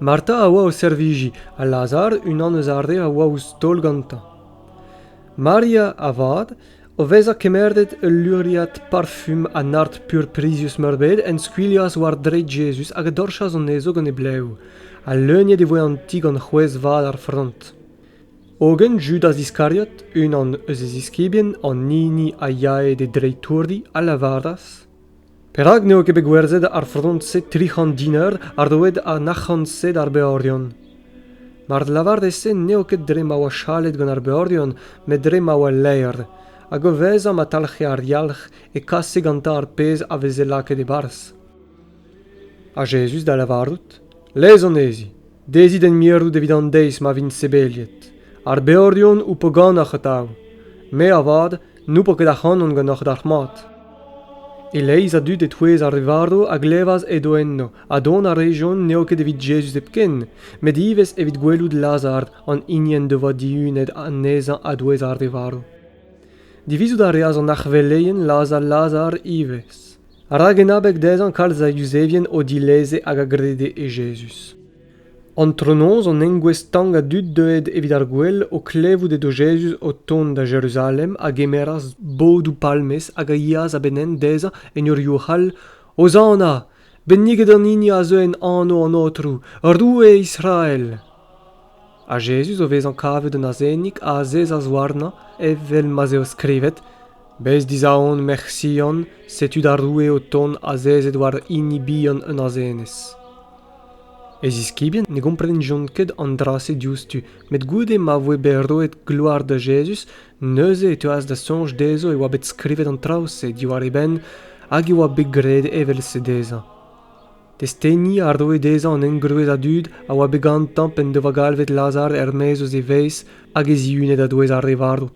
Marta a oa o servijiñ ha Lazar unan eus ar re a oa ouzh taol gantañ. Maria, avat, o vezañ kemeret ul luriad parfum ha nard purprizius-meurbet, en skuilhas war dreid Jezuz hag a dorchas anezho gant e blev, ha leuniet e voe an ti gant c'hwezh vat ar frant. Hogen Judas Iskariot, unan eus e ziskibien, an hini a yae d'e dreitourdi, a lavaras Perak n'eo ket bet gwerzhet ar frontez tri c'hant diner ha roet an arc'hant-se d'ar beorion? Mar lavarez-se n'eo ket dre ma oa chalet gant ar beorion, met dre ma oa laer, hag o vezañ ma talc'he ar yalc'h e kase gantañ ar pezh a veze lakaet e-barzh. Ha Jezuz da lavarout, Lez anezhi. Dezhi d'en mirout evit an deiz ma vint sebeliet. Ar beorion ho po ganeoc'h atav. Me avat n'ho po ket ac'hanon ganeoc'h dalc'hmat. E-leizh a dud e-touez ar re varv a glevas edo enno, ha dont a rejont n'eo ket evit Jezuz hepken, met ivez evit gwelout Lazar, an hini en devoa dihunet anezhañ a-douez ar re varv. Divizout a reas an arc'hveleien lazhañ Lazar ivez. rak en abeg dezhañ kalz a Yuzevien o dileze hag a grede e Jezuz. Antronoz an engouestl stank a dud deuet evit ar gwel o klevout edo Jezuz o tont da Jeruzalem a gemeras bodoù palmez hag a yeas a-benn-henn dezhañ en ur yourc'h all Hozanna! Benniget an hini a zeu en anv an Aotrou, Roue Israel! Ha Jezuz, o vezañ kavet un azenig, a azezas warnañ evel ma'z eo skrivet: Bez dizaon, merc'h Sion, setu da roue o tont azezet war hini bihan un azenez. E ziskibien ne gomprenjont ket an dra-se diouzhtu, met goude ma voe bet roet gloar da Jezuz, neuze e teuas da soñj dezho e oa bet skrivet an traoù-se diwar e benn hag e oa bet graet evel-se dezhañ. testeni a roe dezhañ an engroez a dud a oa bet gantañ p'en devoa galvet lazhañ er-maez eus e vez hag e zihunet a-douez ar re varv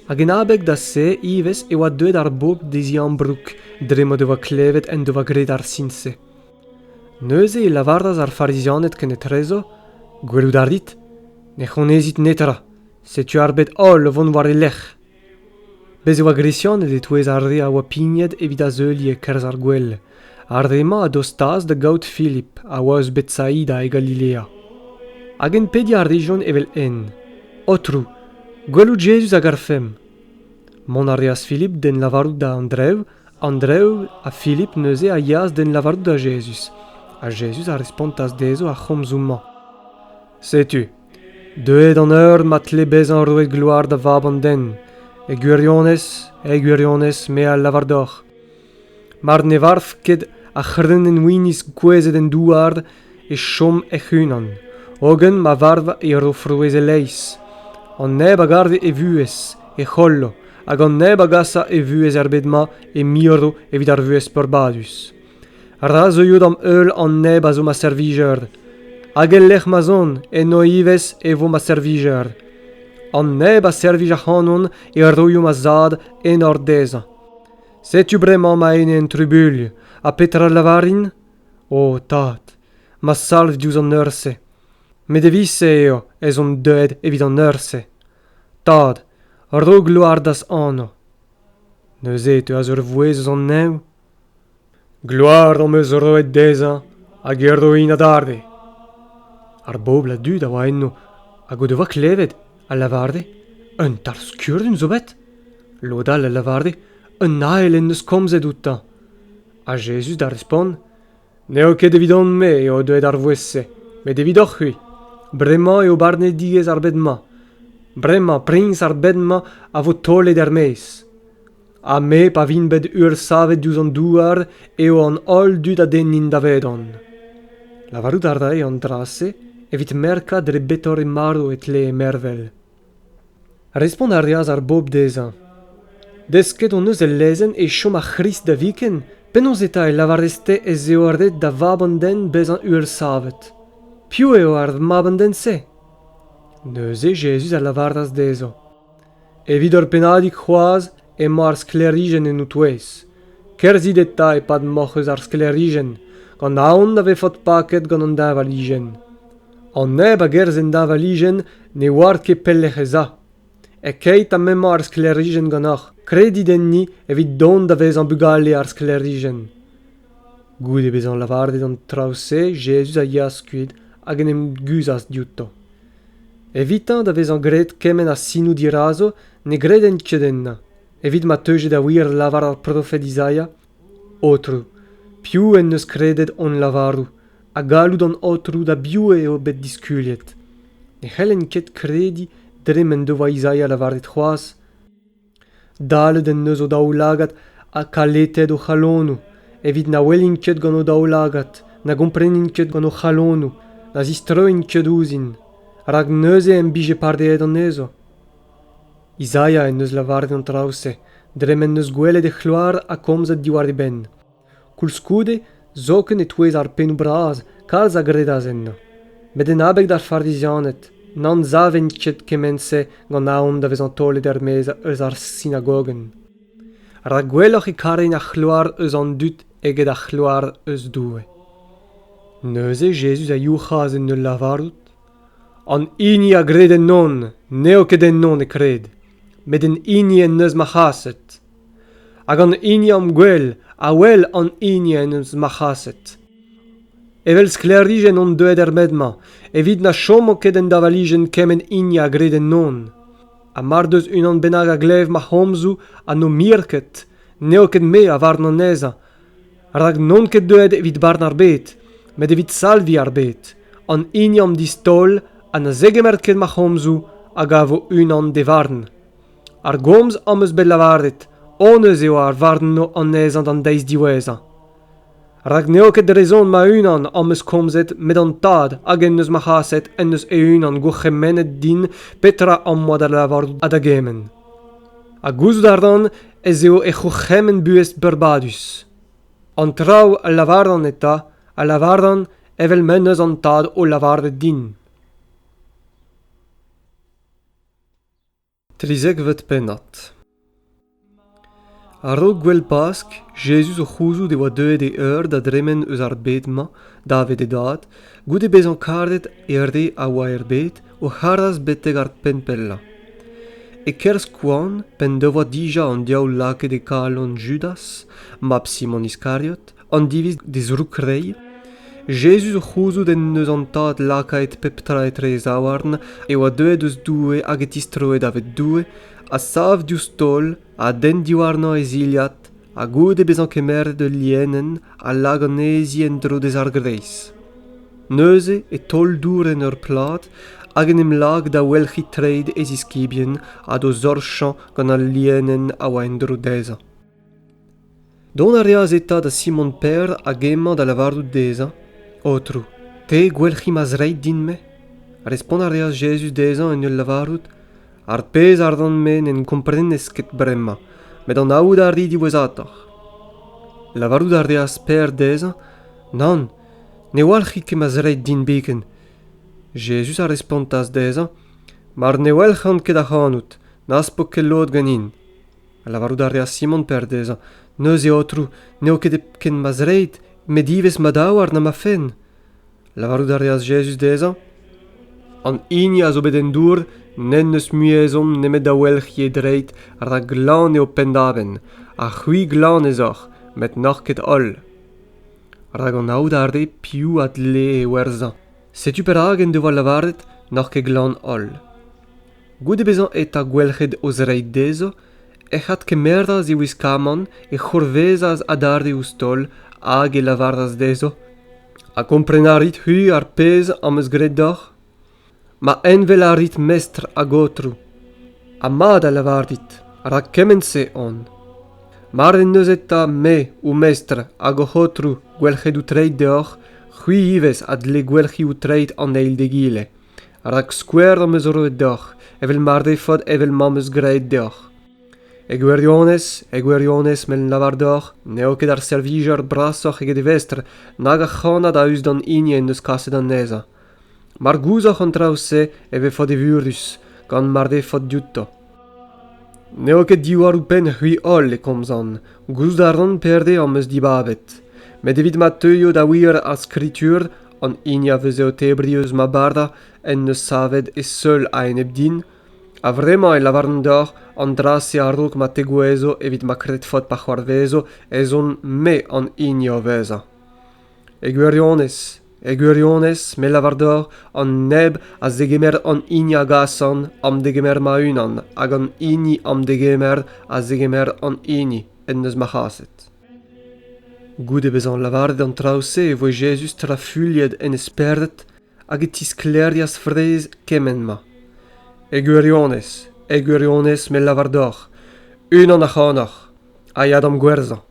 hag en abeg da se ivez e oa deuet ar bobl d'e ziambroug dre m'o devoa klevet en devoa graet ar sin-se neuze e lavaras ar farizianed kenetrezo gwelout a rit ne c'honezit netra setu ar bed holl o vont war e lerc'h Bez' e oa Gresianed e-touez ar re a oa pignet evit azeuliñ e-kerzh ar gwel. Ar re-mañ a dostaas da gaout Filip, a oa eus Betsaida e Galilea. Hag hen pediñ a rejont evel-henn. Aotrou, gwelout Jezuz a garfemp. Mont a reas Filip d'hen lavarout da Andrev. Andrev ha Filip neuze a yeas d'hen lavarout da Jezuz. Ha Jezuz a respontas dezho ar c'homzoù-mañ. Setu, Deuet an eur ma tle bezañ roet gloar da Vab an den, e gwirionez, e gwirionez me a lavar deoc'h. Mar ne varv ket ar c'hrennenn-winiz gouezet en douar, e chom hec'h-unan, hogen ma varv e ro frouezh e-leizh. An neb a garfe e vuhez, e c'hollo, hag an neb a gasa e vuhez er bed-mañ e miro evit ar vuhez peurbadus. Ra zeuio d'am heul an neb a zo ma servijer, hag el lec'h ma'z on, eno ivez e vo ma servijer. An neb a servij ac'hanon e roio ma zad enor dezhañ. Setu bremañ ma ene en trubuilh, ha petra lavarin? O tad, ma salv diouzh an eur-se. Met evit-se eo ez on deuet evit an eur-se. Tad, ro gloar d'az anv. Neuze e teuas ur vouezh eus an neñv Gloar am eus roet dezhañ hag e roin adarre. Ar bobl a dud a oa enno hag o devoa klevet a lavarde un tarzh kurun zo bet. Lod all a lavarde un ael en deus komzet outañ. Ha Jezuz da respont n'eo ket evidon-me eo deuet ar vouezh-se, met evidoc'h-c'hwi. Bremañ eo barnedigezh ar bed-mañ. Bremañ priñs ar bed-mañ a vo taolet er-maez. ha me pa vin bet ursavet diouzh an douar eo an holl dud a dennin davedon lavarout a rae an dra-se evit merkañ dre betore marv e tlee mervel respont a reas ar bobl dezhañ desket hon eus el lezenn e chom ar c'hrist da viken penaos eta e lavarez-te ez eo ret da vab an den bezañ ursavet piv eo ar mab an den-se neuze jezuz a lavaras dezhañ Evit ur pennadig c'hoazh emañ ar sklêrijenn en ho touez. Kerzhit eta e-pad moc'h eus ar sklêrijenn, gant aon da vefot paket gant an deñvalijenn. An neb a gerzh en deñvalijenn ne oar ket pelec'h ez a. E-keit ha m'emañ ar sklêrijenn ganeoc'h, kredit enni evit dont da vezañ bugale ar sklêrijenn. Goude bezañ lavaret an traoù-se, Jezuz a yeas kuit hag en em guzhas diouto. Evitañ da vezañ graet kement a sinoù dirazo ne gredent ket ennañ, evit ma teuje da wir lavar ar profed Izaia, Aotrou, piv en deus kredet hon lavarout, ha galloud an Aotrou da biv eo bet diskuliet? Ne c'hellen ket krediñ dre m'en devoa Izaia lavaret c'hoazh, Dalet en deus o daoulagad ha kaletet o c'halonoù evit na welint ket gant o daoulagad, na gomprenint ket gant o c'halonoù, na zistroint ket ouzhin, rak neuze em bije pareet anezho. Izaia en deus lavaret an traoù-se dre m'en deus gwelet e c'hloar ha komzet diwar e benn. Koulskoude, zoken e-touez ar pennoù bras, kalz a gredas ennañ. Met en abeg d'ar Farizianed n'anzavent ket kement-se gant aon da vezañ taolet er-maez eus ar sinagogenn. Rak gwelloc'h e karent ar c'hloar eus an dud eget ar c'hloar eus Doue. Neuze Jezuz a youc'has en ul lavarout, An hini a gred ennon n'eo ket ennon e kred, met en hini en deus ma c'haset. hag an hini am gwel a wel an hini en deus marc'haset evel sklêrijenn on deuet er bed-mañ evit na chomo ket en davalijenn kement hini a gred ennon ha mar deus unan bennak a glev ma c'homzoù ha n'o mir ket n'eo ket me a varn anezhañ rak n'on ket deuet evit barn ar bed met evit salviñ ar bed an hini am distaol ha na zegemer ket ma c'homzoù a gavo unan d'e varn ar gomz am eus bet lavaret honnezh eo ar varno anezhañ d'an deiz diwezhañ rak n'eo ket dre son ma-unan am eus komzet met an tad hag en deus ma c'haset en deus e-unan gourc'hemennet din petra am boa da lavarout ha da gement ha gouzout a ran ez eo e c'hourc'hemenn buhez beurbadus an traoù a lavaran eta a lavaran evel m'en deus an tad o lavaret din trizekvet pennad. A-raok gouel Pask, Jezuz o c'houzout e oa deuet e eur da dremen eus ar bed-mañ davet e dad, goude bezañ karet e re a oa er bed, o c'haras betek ar penn pellañ. E-kerzh koan, p'en devoa dija an diaoul lakaet e kalon Judas, mab Simon Iskariot, an diviz d'e zroukrei, Jezuz o c'houzout en deus an Tad lakaet pep tra etre e zaouarn, e oa deuet eus Doue hag e tistroe daved Doue, a sav diouzh taol, a denn diwarnañ e zilhad, ha goude bezañ kemeret ul lienenn, a lak anezhi en-dro d'e zargreiz. Neuze e taol dour en ur plad hag en em lak da welc'hiñ treid e ziskibien ha d'o zorchañ gant al lienenn a oa en-dro dezhañ. Dont a reas eta da Simon Pêr hag emañ da lavarout dezhañ, Aotrou, te gwelc'hi ma zreid din-me? Respont a reas Jezuz dezhañ en ul lavarout, Ar pezh a ran-me n'en komprenez ket bremañ, met anaout a ri diwezhatoc'h. Lavarout a reas Pêr dezhañ, Nann, ne walc'hi ket ma zreid din biken. Jezuz a respontas dezhañ, Mar ne welc'han ket ac'hanout, n'az po ket lod ganin. Lavarout a reas Simon Per dezhañ, Neuze, Aotrou, n'eo ket ken ma zreid, met ivez ma daouarn ha ma fenn. Lavarout a reas Jezuz dezhañ, An hini a zo bet en dour n'en deus mui ezhomm nemet da welc'hiñ e dreid, rak glan eo penn-davenn, ha c'hwi glan ez oc'h, met n'oc'h ket holl. Rak anaout a rê piv a dlee e werzhañ. Setu perak en devoa lavaret n'oc'h ket glan holl. Goude bezañ eta gwelc'het o zreid dezho, ec'h adkemeras e wiskamant, e c'hourvezas adarre ouzh taol, hag e lavaras dezho, Ha kompren a rit-hu ar pezh am eus graet deoc'h? Ma envel a rit mestr hag aotrou. Ha mat a lavarit, rak kement-se on. Mar en deus eta me, ho mestr hag hoc'h aotrou, gwelc'het out treid deoc'h, c'hwi ivez a dle gwelc'hi out treid an eil d'egile. rak skouer am eus roet deoc'h evel mar defot evel ma'm eus graet deoc'h e gwirionez e gwirionez m'en lavar deoc'h n'eo ket ar servijer brasoc'h eget e vestr nag ar c'hannad a-us d'an hini en deus kaset anezhañ mar gouzoc'h an traoù-se e vefot evurus gant mar defot diouto n'eo ket diwall-penn c'hwi holl e komzan gouzout a ran pere am eus dibabet met evit ma teuio da wir ar skritur an hini a veze o tebriñ eus ma bardañ en deus savet e seul a-enep din a-vremañ e lavaran deoc'h an dra-se a-raok ma tegouezho evit ma kred faot pa c'hoarvezo ez on me an hini o vezañ e gwirionez e gwirionez me lavar deoc'h an neb a zegemer an hini a gasan am degemer ma-unan hag an hini am degemer a zegemer an hini en deus ma c'haset goude bezañ lavaret an traoù-se e voe jezuz trafuilhet en e spered hag e tisklêrias fraezh kement-mañ. E gwirionez, e gwirionez me lavar deoc'h, unan ac'hanoc'h a ya d'am gwerzhañ.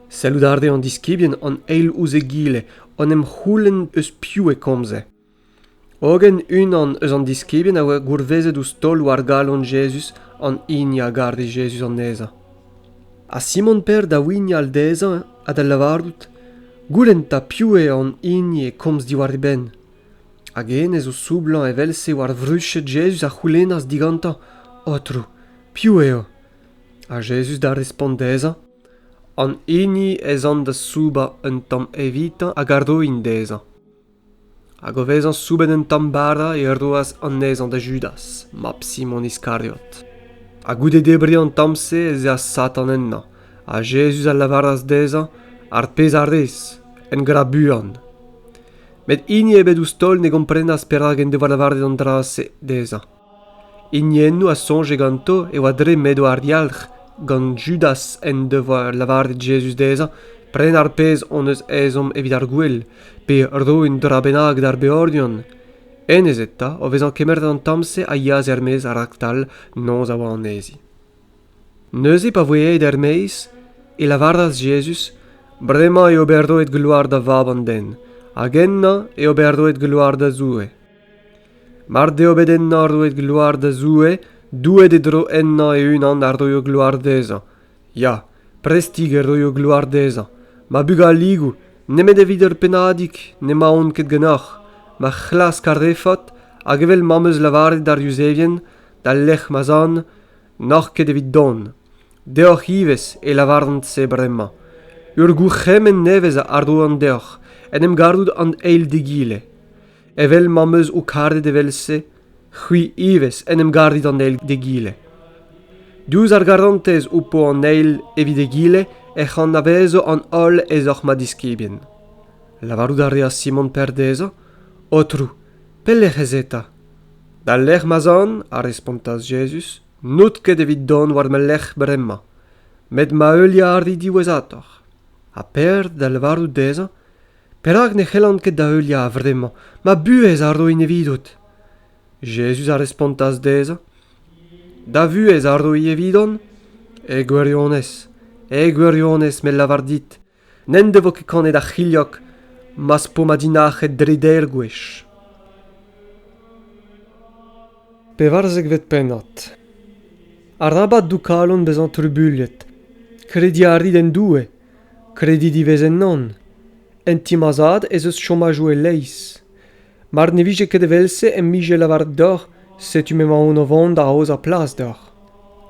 Sellout a reont diskibien an eil ouzh egile en em c'houlenn eus piv e komze. Hogen unan eus an diskibien a oa gourvezet ouzh taol war galon Jezuz an hini a gare Jezuz anezhañ. Ha Simon-Peder da wignal dezhañ ha da lavarout goulenn 'ta piv eo an hini e komz diwar e benn. Hag hennezh o soublañ evel-se war vruched Jezuz a c'houlennas digantañ Aotrou, piv eo? Ha Jezuz da respont dezhañ An hini ez an da soubañ un tamm evitañ hag a roin dezhañ. Hag o vezañ soubenn un tamm bara e roas anezhañ da Judas, mab Simon Iskariot. Ha goude debriñ an tamm-se ez eas Satan ennañ, ha Jezuz a lavaras dezhañ ar pezh a rez, en gra buan. Met hini ebet ouzh taol ne gomprenas perak en devoa lavaret an dra-se dezhañ. Hiniennoù a soñje ganto e oa dre m'edo ar yalc'h gant Judas en devoa lavaret Jezuz dezhañ prenañ ar pezh hon eus ezhomm evit ar gouel, pe roiñ un dra bennak d'ar beordion. Hennezh eta, o vezañ kemeret an tamm-se, a yeas er-maez raktal noz a oa anezhi. Neuze, pa voe aet er-maez, e lavaras Jezuz, Bremañ eo bet roet gloar da Vab an den, hag ennañ eo bet roet gloar da Zoue. Mar deo bet ennañ roet gloar da Zoue, Doueed e dro ennañ e-unan a roio gloar dezhañ. Ya, prestik e roio gloar dezhañ. Ma bugaligoù, nemet evit ur pennadig, n'emaon ket ganeoc'h. Ma c'hlask ar refot, hag evel ma'm eus lavaret d'ar Yuzevien, d'al lec'h ma'z an, n'oc'h ket evit dont. Deoc'h ivez e lavaran-se bremañ. Ur gourc'hemenn nevez a roan deoc'h, en em garout an eil d'egile. Evel ma'm eus ho karet evel-se, c'hwi ivez en em garit an eil d'egile. Diouzh ar garantez ho po an eil evit egile ec'h anavezo an holl ez oc'h ma diskibien. Lavarout a reas Simon Per dezhañ, Aotrou, pelec'h ez eta? D'al lec'h ma'z an, a respontas Jezuz, n'out ket evit dont war ma lerc'h bremañ, met ma heuliañ a ri diwezhatoc'h. Ha Per da lavarout dezhañ, Perak ne c'hellan ket da heuliañ a-vremañ ma buhez a roin evidot? Jezuz a respontas dezhañ, Da vuhez a roy evidon e gwirionez, e gwirionez me lavar dit, n'en devo ket kanet ar c'hilhog ma'z po ma dinac'het dre deir gwech. Pevarzekvet pennad Arabat dou kalon bezañ trubuilhet. Krediñ a rit en Doue Krediñ diwez ennon. En ti ma zad ez eus chomajoù e-leizh. Mar ne vije ket evel-se em bije lavaret deoc'h setu m'emaon o vont da aozañ plas deoc'h.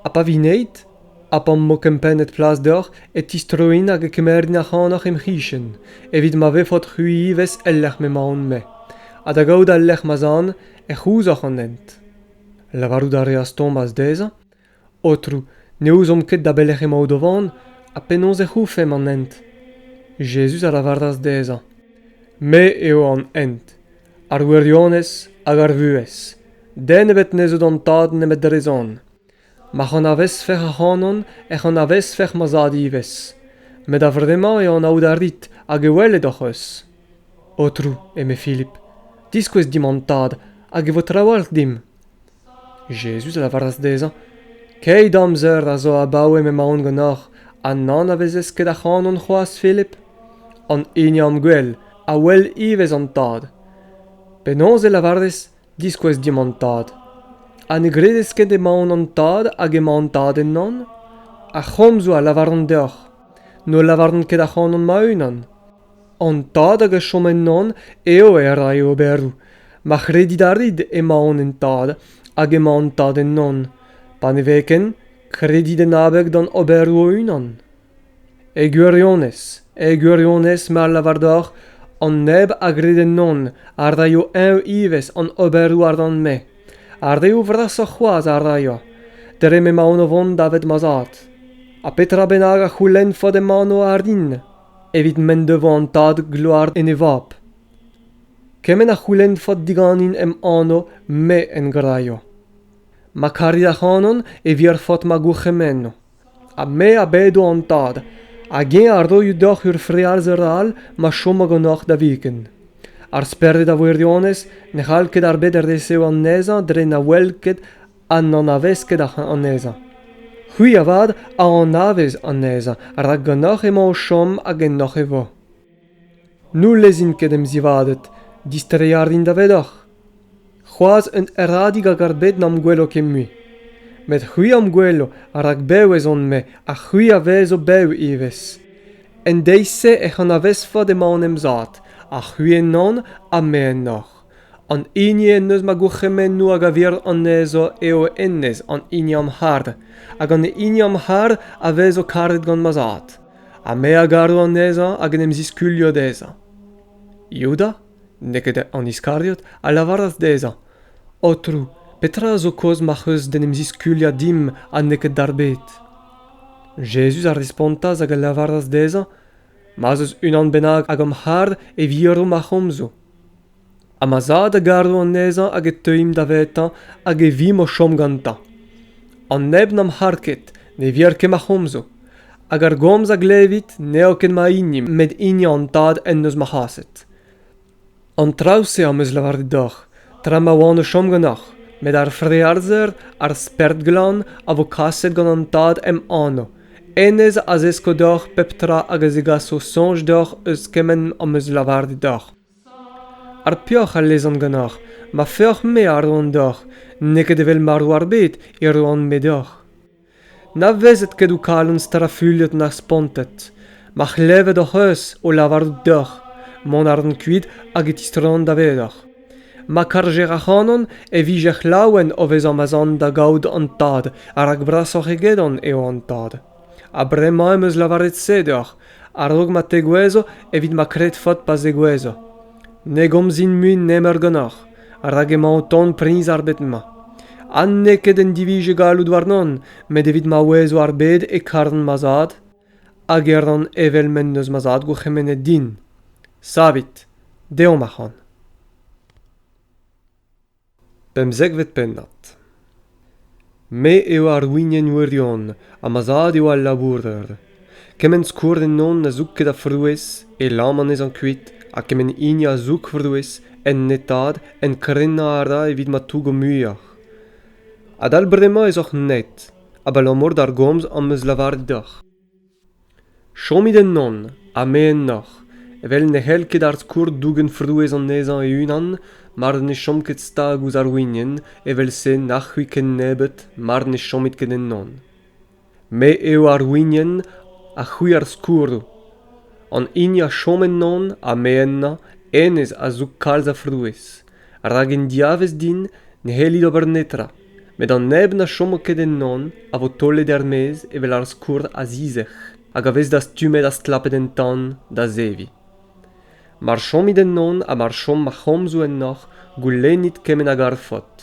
Ha pa vineit, ha pa'm bo kempennet plas deoc'h e tistroin hag e kemerin ac'hanoc'h em c'hichen, evit ma vefot-c'hwi ivez el lec'h m'emaon-me, ha da gaout al lec'h ma zan, e c'houzoc'h an hent. Lavarout a reas Tomaz dezhañ Aotrou, ne ouzomp ket da belec'h emaout o vont ha penaos ec'h oufemp an hent. Jezuz a lavaras dezhañ, Me eo an hent, ar wirionez hag ar vuhez. Den ebet ne zeu d'an Tad nemet dre zon. M'ac'h anavezfec'h ac'hanon ec'h anavezfec'h ma Zad ivez. Met a-vremañ eo anaout a rit hag e welet hoc'h eus. Aotrou, eme Filip, diskouez dimp an Tad hag e vo trawalc'h dimp. Jezuz a lavaras dezhañ, Keit amzer a zo abaoe m'emaon ganeoc'h ha n'anavezez ket ac'hanon c'hoazh, Filip? An hini am gwel a wel ivez an Tad. Penaos e lavarez diskouez dimp an Tad? Ha ne gredez ket emaon an Tad hag emañ an Tad ennon? Ar c'homzoù a lavaran deoc'h, n'o lavaran ket ac'hanon ma-unan. an tad hag a chom ennon eo e ray e oberoù ma c'hredit a rit emaon en tad hag emañ an tad ennon pa ne vez ken kredit en abeg d'an oberoù o-unan e gwirionez e gwirionez ma lavar deoc'h an neb a gred ennon a raio eñ ivez an oberoù ardant-me ar reoù vrasoc'h c'hoazh a raio dre m'emaon o vont davet ma zad ha petra bennak a c'houlennfot ema anv ardin evit m'en devoa an tad gloar en e vab. Kement a c'houlennfot diganin em anv me en graio. Ma kari ac'hanon e virfot ma gourc'hemenno. Ha me a bedo an tad, hag eñ a roio deoc'h ur frealzer all ma chomo ganeoc'h da viken. Ar spered a wirionez ne c'hall ket ar bed resev anezhañ dre na wel ket ha n'anavez ket anezhañ. C'hwi avat a anavez anezhañ rak ganeoc'h emañ o chom hag ennoc'h e vo. N'houlezin ket em zivaded, distreiñ a rin davedoc'h. C'hoazh un herradig a gar bet n'am gwelo ket mui. Met c'hwi am gwelo rak bev ez on-me ha c'hwi a vezo bev ivez. En deiz-se ec'h anavezfot emaon em zad, ha c'hwi ennon ha me ennoc'h. an hini en deus ma gourc'hemennoù hag a vir anezho eo hennezh an hini am c'hard hag an hini am c'har a vezo karet gant ma zad ha me a garo anezhañ hag en em ziskuilho dezhañ Youda, n'eo ket an Iskariot, a lavaras dezhañ Aotrou, petra a zo kaoz ma'c'h eus d'en em ziskuilhañ dimp ha n'eo ket d'ar bed? Jezuz a respontas hag a lavaras dezhañ Ma'z eus unan bennak hag am c'har e viro ma c'homzoù. ha ma zad a garo anezhañ hag e teuimp davetañ hag e vimp o chom gantañ an neb n'am c'har ket ne vir ket ma c'homzo hag ar gomz a glevit n'eo ket ma hini met hini an tad en deus ma c'haset an traoù-se am eus lavaret deoc'h tra ma oan o chom ganeoc'h met ar frealzer ar spert glan a vo kaset gant an tad em anv Hennezh a zesko deoc'h pep tra hag a zegaso soñj deoc'h eus kement am eus lavaret deoc'h. Ar peoc'h a lezan ganeoc'h, ma feoc'h-me a roan deoc'h, n'eo ket evel marv ar bed e roan-me deoc'h. Na vezet ket ho kalon strafuilhet na spontet. Ma c'hlevet hoc'h eus o lavarout deoc'h, mont a ran kuit hag e tistroan davedoc'h. ma karjer ac'hanon e vijec'h laouen o vezañ ma'z an da gaout an tad ha rak brasoc'h egedon eo an tad ha bremañ em eus lavaret se deoc'h a-raok ma tegouezho evit ma kredfot pa zegouezho ne gomzin mui nemeur ganeoc'h rak emañ o tont priñs ar bed-mañ ha n'eo ket en divije galloud warnon met evit ma ouezo ar bed e karfen ma zad hag e ran evel m'en deus ma zad gourc'hemennet din. Savit, deomp ac'han. Pemzekvet pennad Me eo ar wignen wirion ha ma zad eo al labourer. Kement skourr ennon a zoug ket a frouez, e lam anezhañ kuit, ha kement hini a zoug frouez, en netad, en krenañ a ra evit ma tougo muioc'h. Adal bremañ ez oc'h net, abalamour d'ar gomz am eus lavaret deoc'h. Chomit ennon ha me ennoc'h, evel ne c'hell ket ar skourr dougen frouezh anezhañ e-unan mar ne chom ket stag ouzh ar wignen, evel-se nac'h c'hwi ken nebeut mar ne chomit ket ennon. Me eo ar wignen ha c'hwi ar skourroù. An hini a chom ennon ha me ennañ, hennezh a zoug kalz a frouezh. rak en diavaez din ne c'hellit ober netra met an neb na chomo ket ennon a vo taolet er-maez evel ar skourr a-zizec'h hag a vez dastumet ha stlapet en tan da zeviñ mar chomit ennon ha mar chom ma c'homzoù ennoc'h goulennit kement a garfot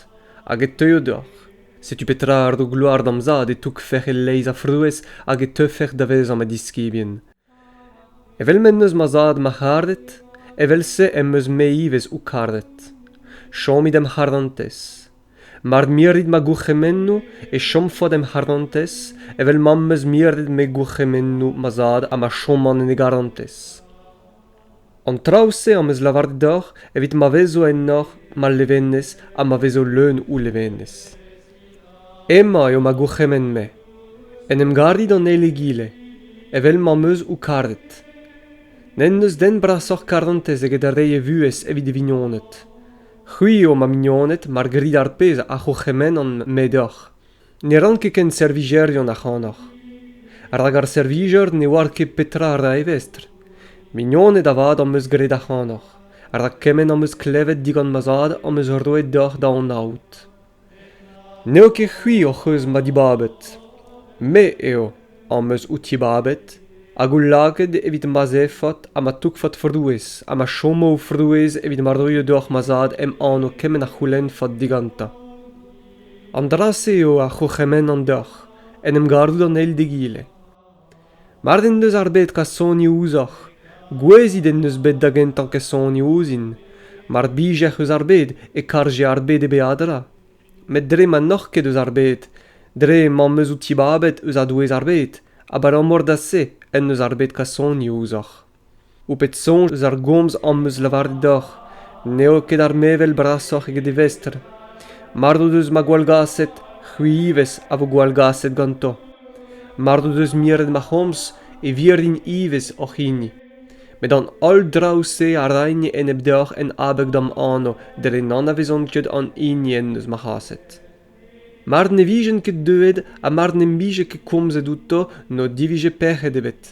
hag e teuio deoc'h setu petra a ro gloar d'am zad e tougfec'h e-leizh a frouezh hag e teufec'h da vezañ ma diskibien Evel m'en deus ma zad marc'haret, evel-se em eus-me ivez ho karet. Chomit em c'harantez. Mar mirit ma gourc'hemennoù e chomfot em c'harantez evel ma'm eus miret me gourc'hemennoù ma zad ha ma choman en e garantez. An traoù-se am eus lavaret deoc'h evit ma vezo ennoc'h ma levenez ha ma vezo leun ho levenez. Hemañ eo ma gourc'hemenn-me. En em garit an eil egile, evel m'am eus ho karet. N'en deus den brasoc'h karantez eget reiñ e vuhez evit e vignoned. C'hwi eo ma mignoned mar grit ar pezh a c'hourc'hemennan-me deoc'h. Ne ran ket ken servijerion ac'hanoc'h. Rak ar servijer ne oar ket petra a ra e vestr. Mignoned avat am eus graet ac'hanoc'h, rak kement am eus klevet digant ma zad am eus roet deoc'h da anaout. N'eo ket c'hwi hoc'h eus ma dibabet. Me eo am eus out dibabet hag out lakaet evit ma zefot ha ma tougfot frouezh ha ma chomo ho frouezh evit ma roio deoc'h ma zad em anv kement a c'houlennfot digantañ. An dra-se eo a c'hourc'hemennan deoc'h, en em garout an eil d'egile. Mard en deus ar bed kasoni ouzhoc'h, gouezit en deus bet da gentañ kasoni ouzhin, mar bijec'h eus ar bed e karje ar bed e beadra. Met dre ma n'oc'h ket eus ar bed, dre m'am eus ho tibabet eus a-douez ar bed, abalamour da se en deus ar bed kasoni ouzhoc'h. Ho pet soñj eus ar gomz am eus lavaret deoc'h n'eo ket ar mevel brasoc'h eget e vestr. Mard o deus ma gwallgaset, c'hwi ivez a vo gwallgaset ganto. Mard o deus miret ma c'homz, e virint ivez hoc'h hini. Met an holl draoù-se a raint enep deoc'h en abeg d'am anv, dre n'anavezont ket an hini en deus ma c'haset. Mar ne vijent ket deuet ha mar n'em bije ket komzet outo n'o divije pec'hed ebet.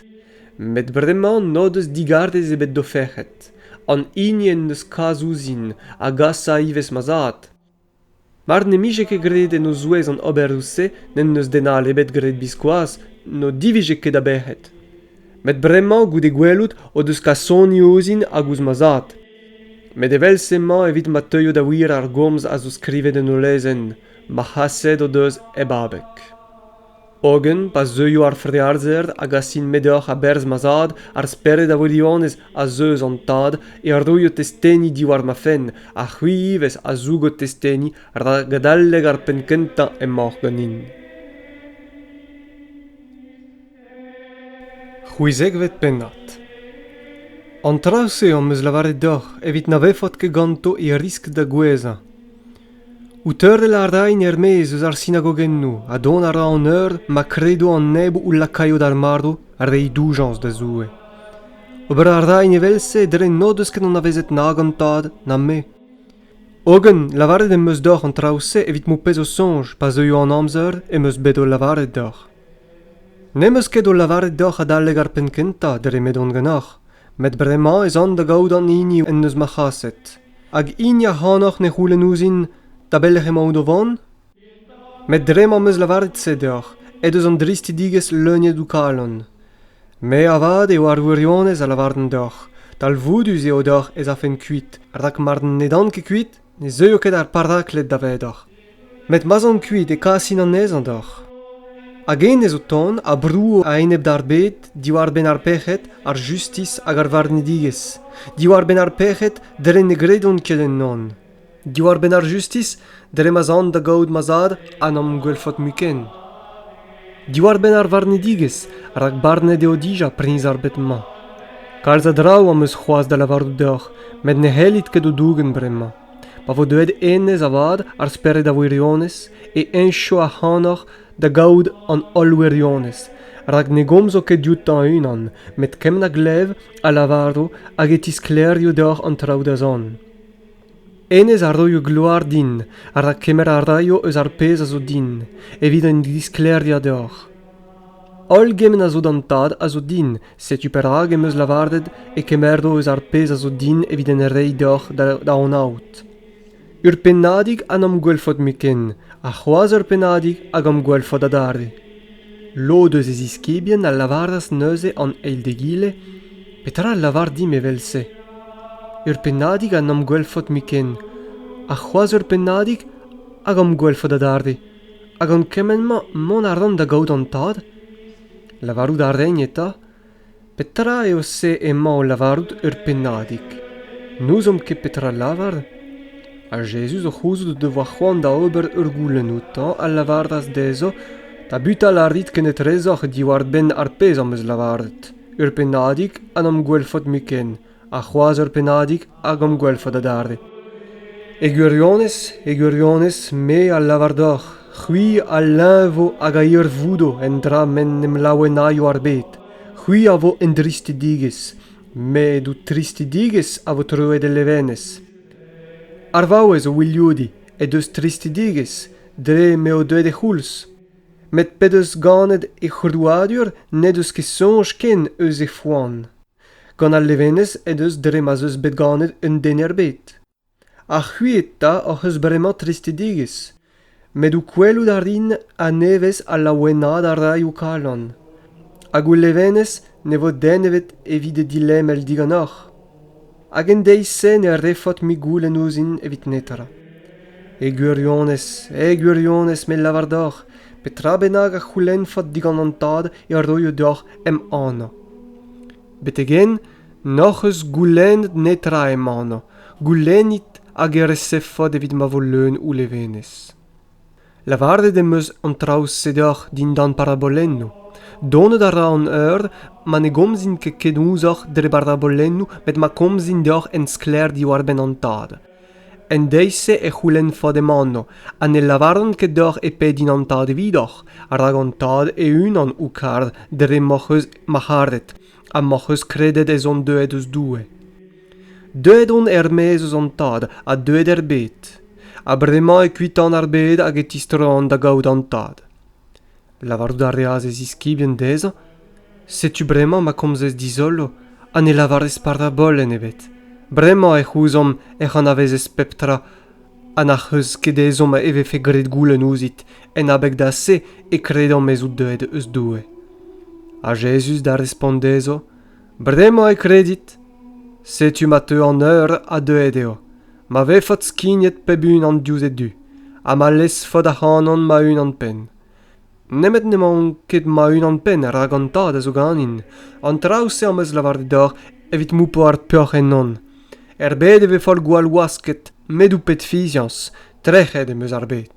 Met bremañ n'o deus digarez ebet d'o fec'hed. An hini en deus kas ouzhin a gasa ivez ma zad. Mar n'em bije ket graet en o zouez an oberoù-se n'en deus den all ebet graet biskoazh n'o divije ket a bec'hed. Met bremañ goude gwelout o deus kasoni ouzhin hag ouzh ma zad. Met evel-se emañ evit ma teuio da wir ar gomz a zo skrivet en ul lezenn ma c'haset o deus hep abeg. Hogen pa zeuio ar frealzer a gasin-me deoc'h a-berzh ma zad, ar spered a wirionez a zeu eus an tad e roio testeni diwar ma fenn, ha c'hwi ivez a zougo testeni rak adalek ar penn kentañ emaoc'h ganin. C'hwezekvet pennad. An traoù-se am eus lavaret deoc'h evit na vefot ket ganto e riskl da gouezhañ. O teurel a rain er-maez eus ar sinagogennoù ha dont a ra an eur ma kredo an neb o lakaio d'ar marv reiñ doujañs da Zoue. Ober a rain evel-se dre n'o deus ket anavezet nag an Tad na me. Hogen, lavaret em eus deoc'h an traoù-se evit m'ho pezo soñj pa zeuio an amzer em eus bet o lavaret deoc'h. N'em eus ket o lavaret deoc'h adalek ar penn kentañ dre m'edon ganeoc'h, met bremañ ez an da gaout an hini en deus ma c'haset. Hag hini ac'hanoc'h ne c'houlenn ouzhin da belec'h emaout o vont ? Met dre m'am eus lavaret se deoc'h, ez eus an dristidigezh leuniet ho kalon. Me avat eo ar wirionez a lavaran deoc'h. Talvoudus eo deoc'h ez afen kuit, rak mar n'edan ket kuit, Ne zeuio ket ar parakled davedoc'h, met ma'z on kuit e kasin anezhañ deoc'h. Hag hennezh o tont a brouo a-enep d'ar bed diwar-benn ar pec'hed, ar justis hag ar varnedigezh, diwar-benn ar pec'hed dre ne gredont ket ennon, diwar-benn ar justis dre ma'z an da gaout ma zad ha n'am gwelfot mui ken. Diwar-benn ar varnedigezh, rak barnet eo dija priñs ar bed-mañ. Kalz a draoù am eus c'hoazh da lavarout deoc'h, met ne c'hellit ket o dougen bremañ. Pa vo deuet hennezh avat, ar spered a wirionez, e heñcho ac'hanoc'h da gaout an holl wirionez, rak ne gomzo ket dioutañ e-unan, met kement a glev, a lavaro hag e tisklêrio deoc'h an traoù da zont. Hennezh a roio gloar din rak kemer a raio eus ar pezh a zo din evit an disklêriañ deoc'h. Holl gement a zo d'an Tad a zo din, setu perak em eus lavaret e kemero eus ar pezh a zo din evit en reiñ deoc'h da anaout. Ur pennadig ha n'am gwelfot mui ken, ha c'hoazh ur pennadig hag am gwelfot adarre. Lod eus e ziskibien a lavaras neuze an eil d'egile, Petra a lavar dimp evel-se? Ur pennadig a 'n am gwelfot-mui ken, ha c'hoazh ur pennadig hag am gwelfot adarre, ha gant kement-mañ mont a ran da gaout an tad? Lavarout a raen eta, Petra eo se emañ o lavarout ur pennadig ? N'ouzomp ket petra lavar ? Ha Jezuz o c'houzout o devoa c'hoant da ober ur goulenn outañ a lavaras dezho, Tabutal a rit kenetrezoc'h diwar-benn ar pezh am eus lavaret, ur pennadig ha n'am gwelfot mui ken. ha c'hoazh ur pennadig hag hom gwelfot adarre. E gwirionez, e gwirionez, me a lavar deoc'h, c'hwi a leñvo hag a hirvoudo en dra m'en em laouenaio ar bed. C'hwi a vo en dristidigezh, met ho tristidigezh a vo troet el levenez. Ar vaouez o wilioudiñ he deus tristidigezh dre m'eo deuet he c'houlz. Met p'he deus ganet he c'hrouadur n'he deus ket soñj ken eus he foan. Gant al levenez en deus dre ma'z eus bet ganet un den er bed. Ha c'hwi eta hoc'h eus bremañ tristedigezh. Met ho gwelout a rin a-nevez ha laouenaat a ray ho kalon. Hag ho levenez ne vo den ebet evit he dilemel diganeoc'h. Hag en deiz-se ne refot-mui goulenn ouzhin evit netra. E gwirionez, e gwirionez me lavar deoc'h, petra bennak a c'houlennfot digant an Tad e roio deoc'h em anv. betek-henn n'hoc'h eus goulennet netra emanañ goulennit hag e resevfot evit ma vo leun ho levenez lavaret em eus an traoù-se deoc'h dindan parabolennoù donet a ra an eur ma ne gomzin ket ken ouzhoc'h dre barabolennoù met ma komzin deoc'h en sklaer diwar-benn an tad En deiz-se e c'houlennfot emaon ha ne lavaran ket deoc'h e pe din an tad evidoc'h, rak an tad e-unan ho kar dre m'hoc'h eus marc'haret ha m'hoc'h eus kredet ez on deuet eus Doue. Deuet on er-maez eus an tad ha deuet er bed, ha bremañ e kuitan ar bed hag e tistroan da gaout an tad. Lavarout a reas e ziskibien dezhañ, Setu bremañ ma komzez dizolo ha ne lavarez parabolenn ebet. Bremañ ec'h ouzomp ec'h anavezez pep tra ha n'ac'h eus ket ezhomm e vefe graet goulenn ouzhit. En abeg da se e kredomp ez out deuet eus Doue. Ha Jezuz da respont dezho, Bremañ e kredit. Setu ma teu an eur ha deuet eo, ma vefot skignet pep unan diouzh e du, ha ma lezfot ac'hanon ma-unan-penn. Nemet n'emaon ket ma-unan-penn rak an tad a zo ganin. An traoù-se am eus lavaret deoc'h evit moupañ ar peoc'h ennon. Er bed e ve foll gwall wasket, met out bet fiziañs. Trec'het em eus ar bed.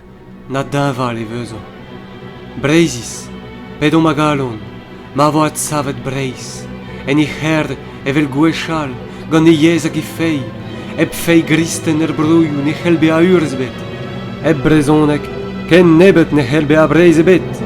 Na deñval e vezo. Breizhiz, p'edomp a galon, ma vo adsavet Breizh, en he c'herr evel gwechall, gant he yezh hag he feiz, hep feiz gristen er broioù ne c'hell bezañ urzh ebet, hep brezhoneg ken nebeut ne c'hell bezañ Breizh ebet.